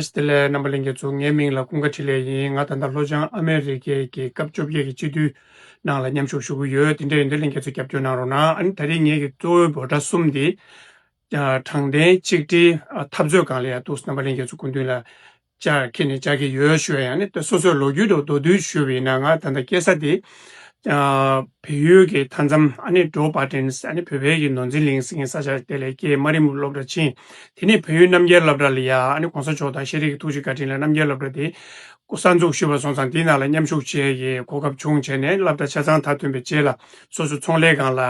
ཨེས་ཏེ་ལའི་རྣམ་པ་གླིང་གི་གཙོ་ངའི་མིང་ལ་ཀུན་དགའ་ཁྲི་ལས་ཡིན་ང་ད་ལྟ་ལྷོ་བྱང་ཨ་མེ་རི་ཁའི་རྒྱལ་ཁབ་བཅོ་བརྒྱད་ཀྱི་སྤྱི་འཐུས་ནང་ལ་མཉམ་ཞུགས་ཞུ་གི་ཡོད་དེ་འདྲའི་ཡིན་དུས་གླིང་ག་ཚོད་རྒྱབ་སྐྱོར་གནང་རོགས་གནང་ཨ་ནི་ད་རེས་ངེད་ཀྱི་གཙོ་བོའི་འབོད་སྒྲ་གསུམ་དེ་དྲང་བདེན་གཅིག་སྒྲིལ་འཐབ་རྩོད་གང་ལ་ཡང་གཏུགས་སོ་རྣམ་པ་གླིང་ག་ཚོ་སྐུ་མདུན་ལ་ཅར་ཁྱེད་ནས་ཅར་གྱི་ཡོད་ཞུ་བ་ཡང་ནི་ད་སོ་སོས་ལོ་རྒྱུས་ཐོག་མདོར་བསྡུས་ཞུས་པ་ཡིན་ན་ང་ད་ལྟ་སྐྱེ་ས་དེ་བལ་ཡུལ་གྱི་མཐའ་མཚམས་ཨ་ནེ་ཀྲོའུ་པཱ་ཀྲེན་ཨ་ནེ་བོད་བལ་གྱི་ནོར་འཛིན་གླིང་ཟེར་མཁན་ས་ཆ་དེ་ལས་སྐྱེས་དམའ་རིམ་སློབ་གྲྭ་ཕྱིན། དེ་ནས་བལ་ཡུལ་རྣམ་རྒྱལ་བླ་བྲ་ལ་ཡ་ཨ་ནེ་གོང་ས་མཆོག་དང་ཤེས་རིག་གི་ཐུགས་རྗེ་བཀའ་དྲིན་ལ་རྣམ་རྒྱལ་བླ་བྲ་དེ་གསར་འཛུགས་ཞུས་པར་སོང་ཙང་དེའི་ནང་ལ་མཉམ་ཞུགས་བྱེད་ཀྱི་གོ་སྐབས་བྱུང་བྱས་ནས་བླ་བྲ་ཆ་ཚང་མཐར་ཐོན་པའི་རྗེས་ལ་སོ་སོའི་ཚོང་ལས་ཁང་ལ།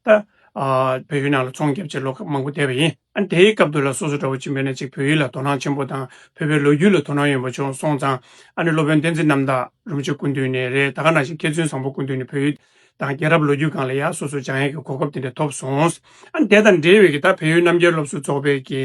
ད་བོད་ཡུལ་ནང་ལ་ཚོང་བརྒྱབ་ཆེད་ལོག་སྐབས་མང་པོ་བསྡད་པ་ཡིན། ཨ་དེའི་སྐབས་དུ་ལ་སོ་སོ་འདྲ་བོ་ཅི་འབད་ནས་ཅིག་བོད་ཡུལ་ལ་དོ་སྣང་ཆེན་པོ་དང་བོད་པའི་ལོ་རྒྱུས་ལ་དོ་སྣང་ཡོན་པོ་བྱུང་སོང་ཙང་ཨ་ནི་སློབ་དཔོན་བསྟན་འཛིན་རྣམ་དག་རུམ་ཆེན་སྐུ་མདུན་ནས་རེད་ད་ག་ནང་བཞིན་མཁས་བཙུན་བཟང་པོ་སྐུ་མདུན་ནས་བོད་ཡུལ་དང་རྒྱལ་རབས་ལོ་རྒྱུས་སྒང་ལ་ཡ་སོ་སོ་སྦྱང་ཡས་ཀྱི་གོ་སྐབས་དེ་འདྲ་ཐོབ་སོང། ཨ་ནི་དེ་དང་འབྲེལ་བའི་ཀྱི་ད་བལ་ཡུལ་རྣམ་རྒྱལ་སློབ་གསོ་ཚོགས་པའི་ཀྱི་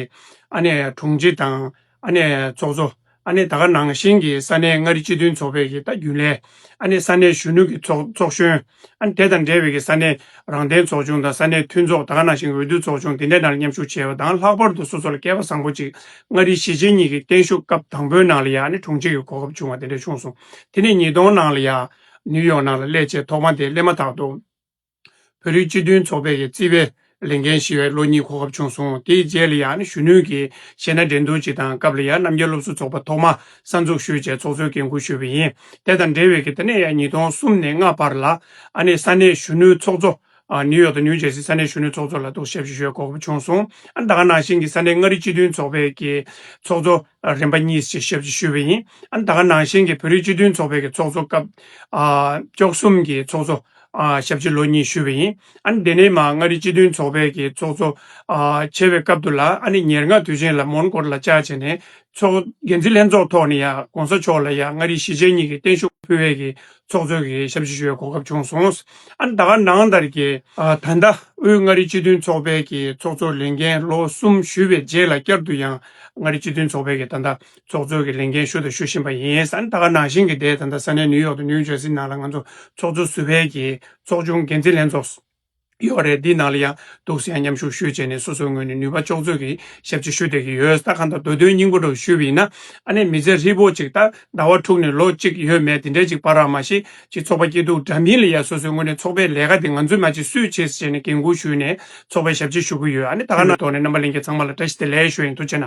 ཨ་ནི་དྲུང་ཆེ་དང། ཨ་ནེ་ཚོགས་གཙོ། ཨ་ནེ་ད་ག་ནང་བཞིན་གྱི་ས་གནས་མངའ་རིས་སྤྱི་མཐུན་ཚོགས་པའི་གྱི་རྒྱུན་ལས། ཨ་ནེ་ས་གནས་གཞོན་ནུ་གྱི་ཚོགས་ཚོགས་གཞོན། ཨ་ནེ་དེ་དང་འབྲེལ་བའི་གྱི་ས་གནས་རང་བདེན་ཚོགས་ཆུང་དང་ས་གནས་མཐུན་ཚོགས་ད་ག་ནང་བཞིན་གྱི་འོས་བསྡུ་ཚོགས་ཆུང་དེ་འདྲའི་ནང་ལ་མཉམ་ཞུགས་བྱས་པ་དང་ལྷག་པར་དུ་སོ་སོ་ལ་སྐལ་པ་བཟང་པོ་ཅིག་མངའ་རིས་གཞིས་བྱེས་གཉིས་ཀྱི་བརྟན་བཞུགས་སྐབས་དང་པོའི་ནང་ལ་ཡང་ཨ་ནེ་དྲུང་ཆེ་གྱི་གོ་སྐབས་བྱུང་བ་དེ་འདྲ་བྱུང་སོང། དེ་ནས་ཉིས་སྟོང་ནང་ལ་ཡང་ནིའུ་ཡོག་ནང་ལ་སླད་ཆད་ཐོག་མ་དེ་སླེབས་མ་ཐག་ཏུ། བོད་རིགས་སྤྱི་མཐུན་ཚོགས་པའི་རྩིས་པའི་ལས་འགན་བཞེས་བའི་ལོ་གཉིས་གོ་སྐབས་བྱུང་སོང། དེའི་རྗེས་ལ་ཡང་གཞོན་ནུའི་གྱི་གཞས་སྣ་འགྲན་བསྡུར་བྱེད་དང་སྐབས་ལ་ཡང་རྣམ་རྒྱལ་སློབ་གསོ་ཚོགས་པ་ཐོག་མ་གསར་འཛུགས་ཞུས་རྗེས་ཚོགས་གཙོའི་འགན་ཁུར་ཞུས་པ་ཡིན། དེ་དང་འབྲེལ་བའི་གི་ད་ནས་ཡང་ཉིས་སྟོང་གསུམ་ནས་ལྔ་བར་ལ་ཨ་ནེ་ས་གནས་གཞོན་ནུའི་ཚོགས་གཙོ། ནིའུ་ཡོག་དང་ནིའུ་ཇེར་སི་ས་གནས་གཞོན་ནུའི་ཚོགས་གཙོ་ལ་གཏུགས་ཞབས་ཞུ་ཞུས་བའི་གོ་སྐབས་བྱུང་སོང། ཨ་མདའ་ནང་བཞིན་གྱི་ས་གནས་མངའ་རིས་སྤྱི་མཐུན་ཚོགས་པའི་གྱི་ཚོགས་གཙོ་རིམ་པ་གཉིས་ཞེས་ཞབས་ཞུ་ཞུས་པ་ཡིན། ཨ་མདའ་ནང་བཞིན་གྱི་བོད་རིགས་སྤྱི་མཐུན་ཚོགས་པའི་གྱི་ཚོགས་གཙོ་སྐབས་བཅོ་གསུམ་གྱི་ཚོགས་གཙོ། ཞབས་ཕྱི་ལོ་གཉིས་ཞུ་བ་ཡིན། ཨ་ནི་དེ་ནས་མ་མངའ་རིས་སྤྱི་མཐུན་ཚོགས་པའི་གི་ཚོགས་གཙོ། བྱས་པའི་སྐབས་དུ་ལ་ཨ་ནི་ཉེར་ལྔ་དུས་ཆེན་ལ་མོན་གྷོ་རུ་ལ་བཅར་བྱས་ནས་ཚོགས། འགན་འཛིན་ལྷན་ཚོགས་ཐོག་ནས་ཡང་གོང་ས་མཆོག་ལ་ཡང་མངའ་རིས་གཞིས་བྱེས་གཉིས་ཀྱི་བརྟན་བཞུགས་ཕུལ་བས་གི་ཚོགས་གཙོའི་གི་ཞབས་ཕྱི་ཞུ་བའི་གོ་སྐབས་བྱུང་སོང། ཨ་ནི་ད་ག་ནང་ལྟར་གི། ད་ལྟ་དབུས་མངའ་རིས་སྤྱི་མཐུན་ཚོགས་པའི་གི་ཚོགས་གཙོ་ལས་འགན་ལོ་གསུམ་ཞུས་པའི་རྗེས་ལ་བསྐྱར་དུ་ཡང་མངའ་རིས་སྤྱི་མཐུན་ཚོགས་པའི་གི་ད་ལྟ་ཚོགས་གཙོ་གི་ལས་འགན་ཞུ་དང་ཞུ་བཞིན་པ་ཡིན། ད་སྐབས་ནང་བཞིན་གྱི་སྡེ་ད་ལྟ་ས་གནས་ནིའུ་ཡོག་དང་ནིའུ་ཇར་སི་ནང་ལ་ང་ཚོ་ཚོགས་གཙོ་སུ་ཕལ་གྱིས་ཚོགས་ཆུང་འགན་འཛིན་ལྷན་ཚོགས་སུ་ཡོད་རེད་འདིའི་ནང་ལ་ཡང་འདུག་ཟེར་ཡང་མཉམ་ཞུགས་ཞུས་བྱས་ནས་སོ་སོའི་ངོས་ནས་ནུས་པ་ལྕོགས་ཚོད་ཀྱིས་ཞབས་ཕྱི་ཞུ་བསྡད་ཀྱི་ཡོད་ས་གང་དང་འདོད་དོན་སྙིང་པོ་འགྲོ་ཞུས་པ་ཡིན་ན་ཨ་ནེ་མི་ཚེ་ཧྲིལ་པོ་ཅིག་ལྟར་ཟླ་བ་དྲུག་ནས་ལོ་གཅིག་ཡོད་མེད་དེ་འདྲའི་ཅིག་བར་རང་མ་ཤེས་ཅིག་ཚོགས་པ་སྐྱིད་སྡུག་འདྲ་མིན་ལ་ཡང་སོ་སོའི་ངོས་ནས་ཚོགས་པའི་ལས་ཀ་དེ་ང་ཚོས་མ་བྱེད་སུས་བྱེད་ཟེར་བྱས་ནས་འགན་ཁུར་ཞུས་ནས་ཚོགས་པའི་ཞབས་ཕྱི་ཞུ་གི་ཡོད་ཨ་ནེ་ད་སྔ་ནང་དོན་ནས་རྣམ་པ་གླེང་མཁན་ཚང་མ་ལ་བཀྲ་ཤིས་བདེ་ལེགས་ཞུ་ཡིན་དུ་བྱས་ན།